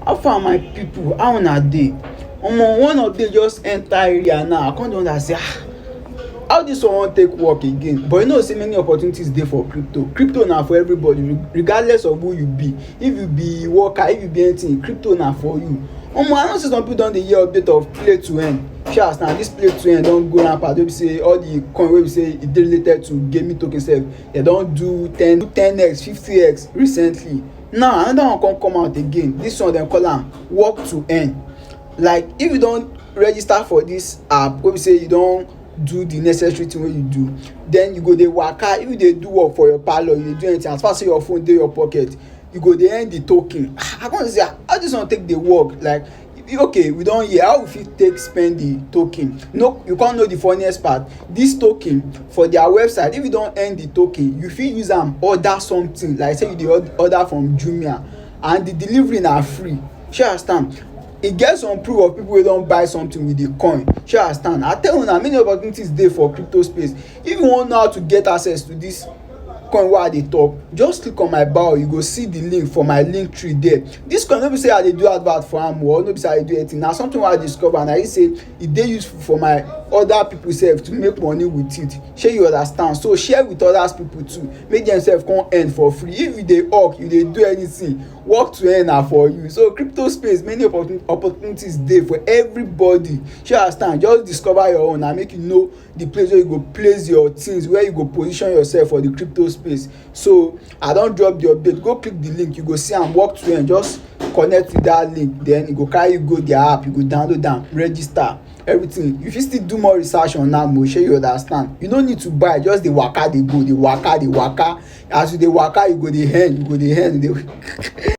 How far my people how una dey? Omo one update just enter area now I come dey wonder say ah how this one wan take work again but you know say many opportunities dey for crypto. Crypto na for everybody regardless of who you be if you be worker if you be anything crypto na for you. Omo I know say some people don dey hear update of play to earn see as now this play to earn don go rampant wey be say all the coin wey be say e dey related to gaming token sef dem don do ten ten x fifty x recently. now another one come come out again this one dem call am work to earn like if you don register for this app wey be say you don do the necessary thing wey you do then you go dey waka if you dey do work for your parlour you dey do anything as far say your phone dey your pocket you go dey earn the token ah i come dey say ah how this one take dey work like okay we don hear how we fit take spend the token no you come know the funniest part this token for their website if you don earn the token you fit use am order something like say you dey order from jumia and the delivery na free shey you understand e get some proof of people wey don buy something with the coin shey you understand i tell una many opportunities dey for crypto space if you wan know how to get access to this coin wey i dey talk just click on my bio you go see the link for my link tree there this coin no be say i dey do advert for am or no be say i dey do anything na something wey i discover and i see say e dey useful for my other people sef to make money with it shey you understand so share with others people too make dem sef come earn for free if you dey hawk you dey do anything work to earn na for you so crypto space many opportunities dey for everybody shey you understand just discover your own and make you know the place where you go place your things where you go position yourself for the crypto space so i don drop the update go click the link you go see am walk to end just connect with that link then e go carry you go their app you go download am register everything you fit still do more research on am o shey you understand you no need to buy just dey waka dey go dey waka dey waka as you dey waka you go dey earn you go dey earn you go dey.